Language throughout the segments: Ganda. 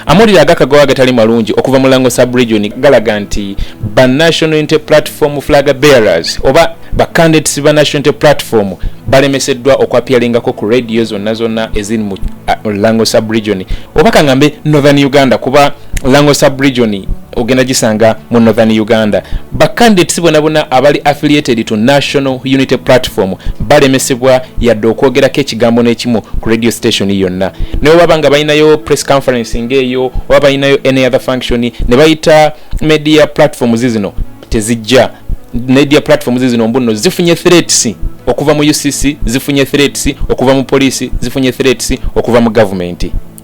Amawulire agakagawa agatali malungi okuva mu Lango sub-region galaga nti ba National Unity Platform flag bearers oba ba candidates ba National Unity Platform balemeseddwa okwapyalingako ku radio zonna zonna eziri mu Lango sub-region oba kangambe Northern Uganda kuba Lango sub-region ogenda gisanga mu northern uganda bacandidates bonabona abali affiliated to national unity platform balemesebwa yadde okwogerako ekigambo n'ekimu ku radio station yonna naye obaba nga balinayo press conference ngaeyo oba balinayo any other function ne bayita media platforms zino tezijja media platforms zino mbuno zifunye threats okuva mu ucc zifunye threats okuva mu poliisi zifunye threats okuva mu gavumenti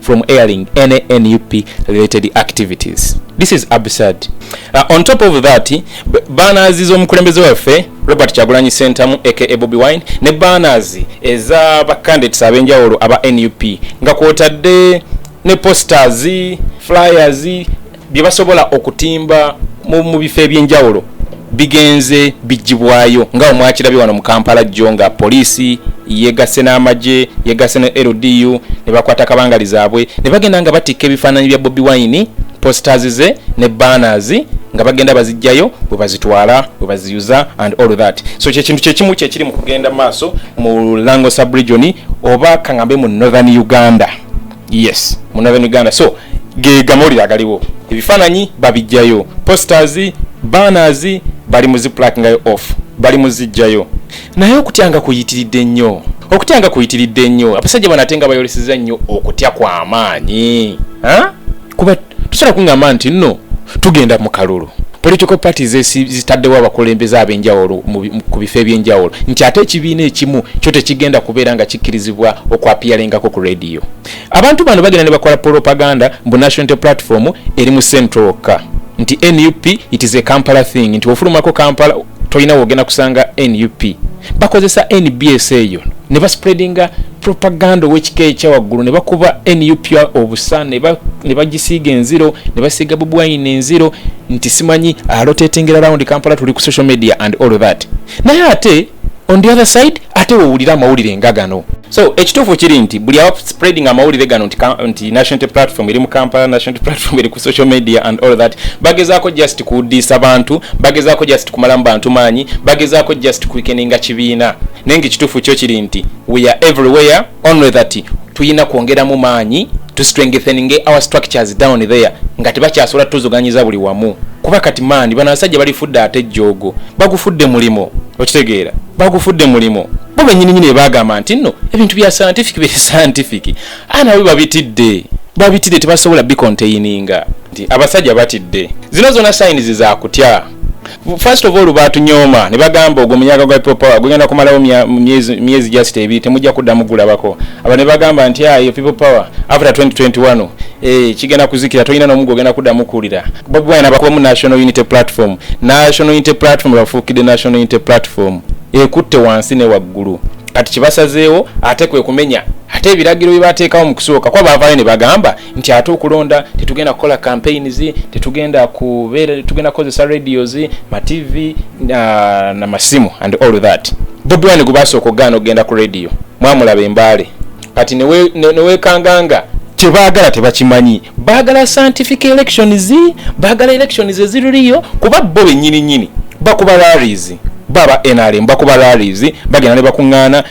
from airing any nup related activities this is absurd uh, on top of that banners z'omukulembeze waffe robert kyagulanyi sentamu aka bobi wine ne banners eza bacandidates ab'enjawulo aba nup nga kwotadde ne posters flyers bye basobola okutimba mu bifo eby'enjawulo bigenze bigibwayo nga omwakirabye wano mu kampala jjo nga poliisi yegasse n'amagye yegasse ne ldu ne bakwata kabangali zaabwe ne bagenda nga batikka ebifaananyi bya bobi wine posters ze ne banners nga bagenda bazijjayo bwe bazitwala bwe baziyuza and all that so kyekintu kyekimu kyekiri mu kugenda maaso mu lango subregion oba kangambe mu northern uganda yes munabe niganda so gegamawulire agaliwo ebifaananyi babijjayo posters banners bali muziplakingayo off bali muzijjayo naye okutyanga kuyitiridde nnyo okutyanga kuyitiridde nnyo abasajja bano ate nga bayoleseza nnyo okutya kwamaanyi kuba tusobola kungamba nti no tugenda mu kalulu political parties zitaddewo abakulembeze ab'enjawulo ku bifo eby'enjawulo nti ate ekibiina ekimu kyo tekigenda kubeera nga kikkirizibwa okwapiyalengako ku rediyo abantu bano bagenda ne bakola propaganda mbu national platform eri mu central wokka nti nup it is a kampala thing nti ofulumako kampala tolina wogenda kusanga nup bakozesa nbs eyo ne baspreadinga propaganda owekika ekyawaggulu ne bakuba nup obusa ne bagisiiga enziro ne basiiga bubwayina enziro nti simanyi alotetingera rawundi kampala tuli ku social media and all that naye ate on the other side ate wowulira amawulire nga gano so ekituufu kiri nti buli awa spreading amawulire gano nti, nti nationality platform eri mu kampala nationality platform eri ku social media and all that bagezaako just kudiisa bantu bagezaako just kumalamu bantu maanyi bagezaako just kuikeninga kibiina naye nga ekituufu kyo kiri nti we are everywhere only that tuyina kwongeramu maanyi to strengthening our structures down there nga tebakyasobola tuzuganyiza buli wamu kuba kati maani bano abasajja balifudde ate ejjoogo bagufudde mulimo okitegeera bagufudde mulimu bo benyini nyini bagamba nti no ebintu bya scientific biri scientific ana we babitidde babitidde tebasobola bikonteininga nti abasajja batidde zino zona sayinizi za kutya first of all batunyooma ne bagamba ogwo muyaga gwa people power gugenda kumalawo myezi just ebiri temujja kudda mugulabako aba ne bagamba nti ayo people power after 2021 eh, kigenda kuzikira tolina n'omu gwogenda kudda mukuwulira Bobi Wine abakubamu National Unity Platform. National Unity Platform bafuukidde National Unity Platform ekutte wansi ne waggulu kati kibasazeewo ate kwe kumenya ate ebiragiro bye bateekawo mu kusooka kuba baavaayo ne bagamba nti ate okulonda tetugenda kukola campaigns tetugenda kubeera tugenda kukozesa radios ma tv na, na masimu and all that bobi wine gwe basooka okugaana okugenda ku radio mwamulaba embaale kati newekanga nga kyebagala tebakimanyi bagala scientific elections bagala elections eziririyo kuba bo benyini nyini bakuba rallies baba nrm bakuba rallies bagenda ne bakuŋŋaana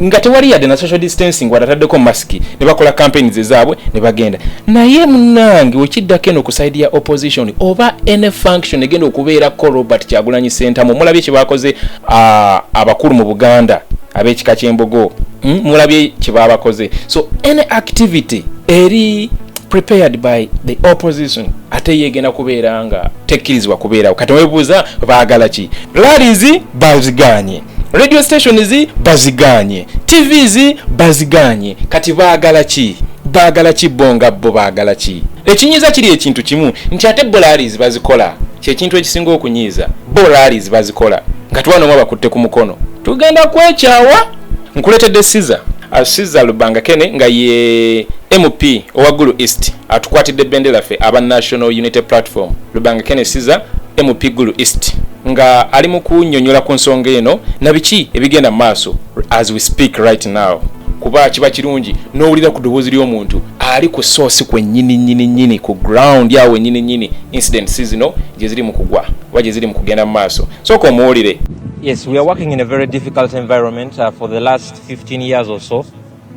nga tewali yadde na social distancing wadataddeko masiki ne bakola campaigns ezaabwe ne bagenda naye munange wekiddako eno ku side ya opposition oba any function egenda okubeerako robert kyagulanyi sentamu mulabye kyebakoze uh, abakulu mu buganda abekika kyembogo mm, mulabye kyebabakoze so any activity eri prepared by the opposition ate yegenda kubeera nga tekkirizibwa kubeerawo kati webuuza baagala ki lalizi baziganye radio stations baziganye tvs baziganye kati baagala ki baagala ki bo nga bo baagala ki ekinyiza kiri ekintu kimu nti ate bolalizi bazikola kyekintu ekisinga okunyiiza bo rallies bazikola nga tubanomu abakutte ku mukono tugenda kwekyawa nkuletedde siza asiza lubanga kene nga ye mp owa gulu east atukwatidde bendera ffe aba national unity platform lubanga kene siza mp gulu east nga ali mu kunyonyola ku nsonga eno na biki ebigenda mu maaso as we speak right now kuba kiba kirungi n'owulira ku ddoboozi ly'omuntu ali ku source kwe nyini nyini nyini ku ground yawe nyini nyini incident seasonal je ziri mu kugwa oba je ziri mu kugenda mu maaso so ko muwulire yes we are working in a very difficult environment uh, for the last 15 years or so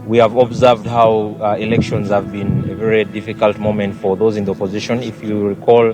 we have observed how uh, elections have been a very difficult moment for those in the opposition if you recall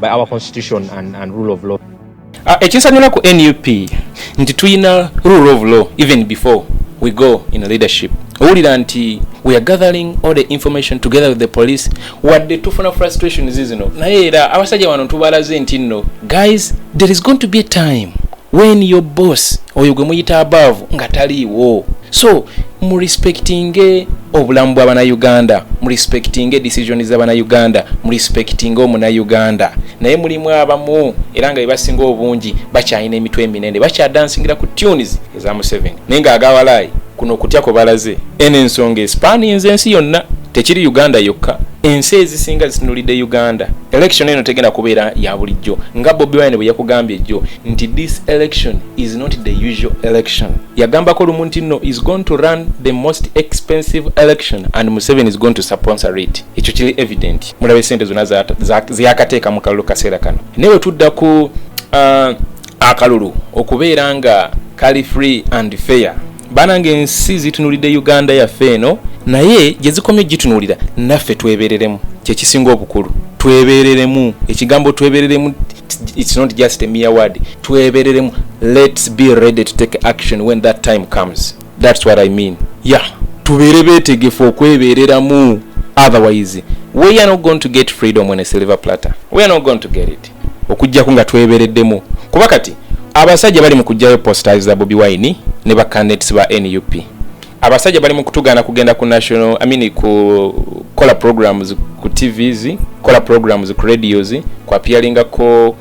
by our constitution and, and rule of law ah, ekinsanyula ku nup nti tulina rule of law even before we go in leadership owulira nti we are gathering all the information together with the police wadde tufuna frustration zizino naye era abasajja bano tubalaze nti nno guys there is going to be a time when your boss oyo gwe muyita above nga taliiwo so mu respecting obulamu bwa banauganda mu respecting decision za banauganda mu respecting omunauganda naye mulimu abamu era nga bebasinga obungi bakyalina emitwe eminene bakyadansingira ku tunes eza museven naye nga agawalaayi kuno okutya kwe balaze eno ensonga esipaaninze ensi yonna tekiri uganda yokka ensi ezisinga zitunulidde uganda election eno tegenda kubeera ya bulijjo nga bobi wine bwe yakugambye jjo nti this election is not the usual election yagambako lumu nti no is going to run the most expensive election and museven is going to sponsor it ekyo kiri evident mulabe sente zona zeyakateeka mu kalulu kaseera kano naye wetudda ku uh, akalulu okubeera nga kali free and fair bananga ensi zitunulidde uganda yaffe eno naye gyezikomye gitunulira naffe twebereremu kyekisinga obukulu twebereremu ekigambo twebereremu it's not just a mere word twebereremu let's be ready to take action when that time comes that's what i mean yeah tubeere betegefu okwebereramu otherwise we are not going to get freedom on a silver platter we are not going to get it okujjako nga twebereddemu kuba kati abasajja bali mu kujjayo posters za Bobi Wine ne ba candidates ba NUP abasajja bali mu kutugana kugenda ku national I mean ku kola programs ku TVs kola programs ku radios kwa appearinga ko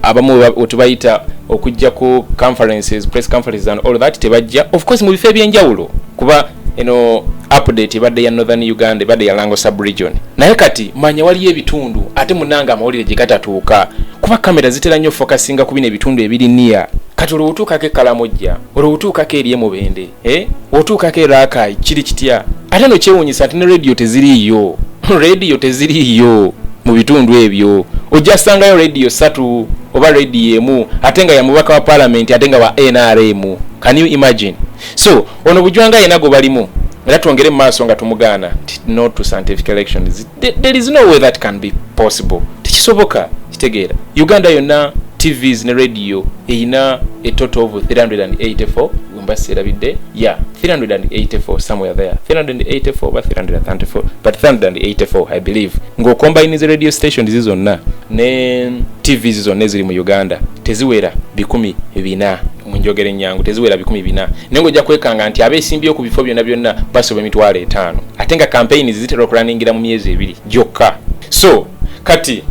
abamu otubayita okujja ku conferences press conferences and all that tebajja of course mu bifo ebyenjawulo kuba eno update ebadde ya northern uganda ebadde ya lango sub region naye kati manya waliyo ebitundu ate munanga amawulire gye gatatuuka kuba kamera zitera nnyo fokasinga ku bino ebitundu ebiri niya kati olwo otuukako ekalamojja olwo otuukako eri emubende eh? otuukako erakai kiri kitya ate no kyewunyisa nti ne rediyo teziriiyo rediyo teziriiyo mu bitundu ebyo ojja sangayo rediyo satu oba rediyo emu ate nga yamubaka wa palamenti ate nga wa nrm can you imagine so ono bujwanga yena gwebalimu era twongere mu maaso nga tumugaana nti no to scientific elections there is no way that can be possible tekisoboka kitegeera uganda yonna tvs ne radio eyina a total of 384 wemba serabidde ya 384 somewhere there 384 ba 334 but 384 i believe ng'okombayiniz radio stations zonna ne tvs zonna eziri mu uganda teziwera bikumi bina mu njogera ennyangu teziwera bikumi bina naye ng'ojja kwekanga nti abeesimbyewo ku bifo byonna byonna basoba emitwalo etaano ate nga kampeyini zitera okulaningira mu myezi ebiri gyokka so kati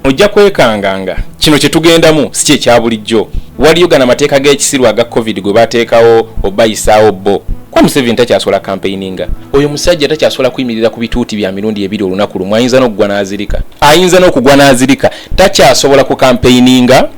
ojja kwekanga nga kino kye tugendamu si kyekya bulijjo waliyo gana amateeka g'ekisiru aga covid gwe bateekawo obayisaawo bo kuba museveni takyasobola kampeyini nga oyo musajja takyasobola kuyimirira ku bituuti bya mirundi ebiri olunaku lumu ayinza n'okugwa n'azirika ayinza n'okugwa n'azirika takyasobola ku kampeininga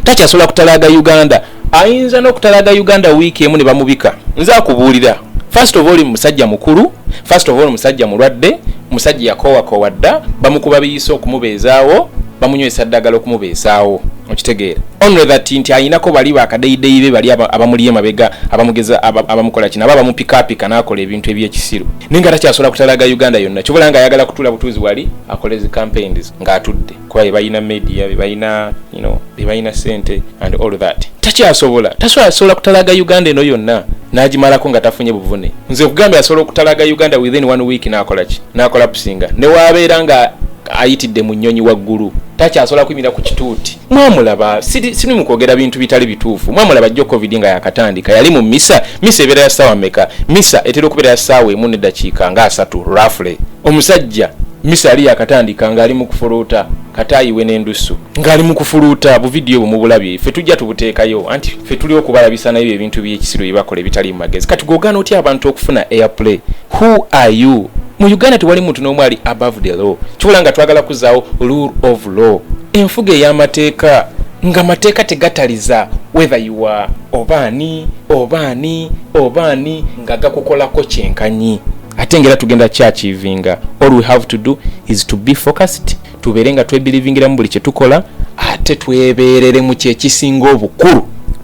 takyasobola kutalaaga uganda ayinza n'okutalaaga uganda wiiki emu ne bamubika nze akubuulira first of all musajja mukulu first of all musajja mulwadde musajja yakoowakowa dda bamukuba biyisa okumubeezaawo bamunywesa ddagala okumubeezaawo okitegeera only that nti ayinako bali bakadeyideyi be bali abamuliye mabega abamugeza abamukola kino aba bamupikaapika n'akola ebintu ebyekisiru naye nga takyasobola kutalaga uganda yonna kyobola nga ayagala kutuula butuuzi wali akolezi campaigns ng'atudde kuba bebalina media bebalina you know, bebalina sente and all that takyasobola tasobola kutalaga uganda eno yonna n'agimalako nga tafunye buvune nze okugambye asobola okutalaga uganda within one week nakolaki nakola pusinga newabeera nga ayitidde mu nyonyi waggulu takyasobola kuyimira ku kituuti mwamulaba siri mukwogera bintu bitali bituufu mwamulaba jjo covid nga yakatandika yali mu misa misa ebeera ya saawa meka misa etera okubeera ya saawa emu nedakiika nga asatu rafle omusajja misa yali yakatandika ngaali mukufuluuta katayiwe nendusu ngaali mukufuluuta buvidiyo bwe mubulabye fe tujja tubuteekayo anti fe tuli okubalabisa nayo ebintu byekisiru byebakola ebitali mumagezi kati gogana otya abantu okufuna airplay who are you mu uganda tewali muntu n'omu ali above the law kyola nga twagala kuzaawo rule of law enfuga ey'amateeka nga mateeka tegataliza whether you are obaani obaani obaani nga gakukolako kyenkanyi ate ngaera tugenda kyakiivinga all we have to do is to be focused tubeere nga twebirivingira mu buli kye tukola ate twebeereremu kyekisinga obukulu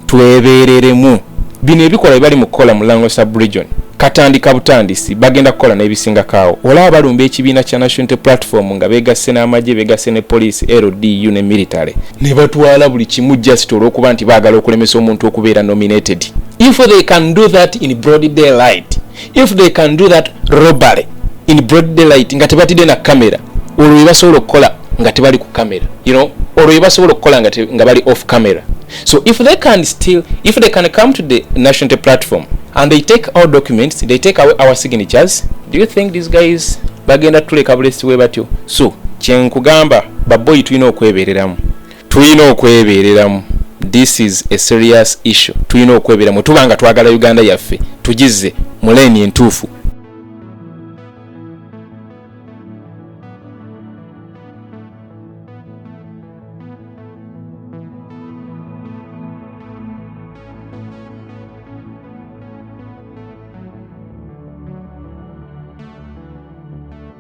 twebeereremu bino ebikola bye bali mu kukola mu lango subregion katandika butandisi bagenda kukola n'ebisingakaawo olaba balumba ekibiina kya nationality platform nga begasse n'amagye begasse ne poliisi ldu ne military ne batwala buli kimu just olw'okuba nti baagala okulemesa omuntu okubeera nominated if they can do that in broad day light if they can do that robbery in broad daylight nga tebatide na camera olwo bebasobola okukola nga tebali ku camera you know olwo bebasobola okukola nga, nga bali off camera so if they can still if they can come to the national platform and they take our documents they take away our signatures do you think these guys bagenda tuleka bulesi we batyo so kyenkugamba baboyi tulina okwebereramu tulina okwebeereramu this is a serious issue tulina okwebera mwetuba nga twagala uganda yaffe tugize mu leeni entuufu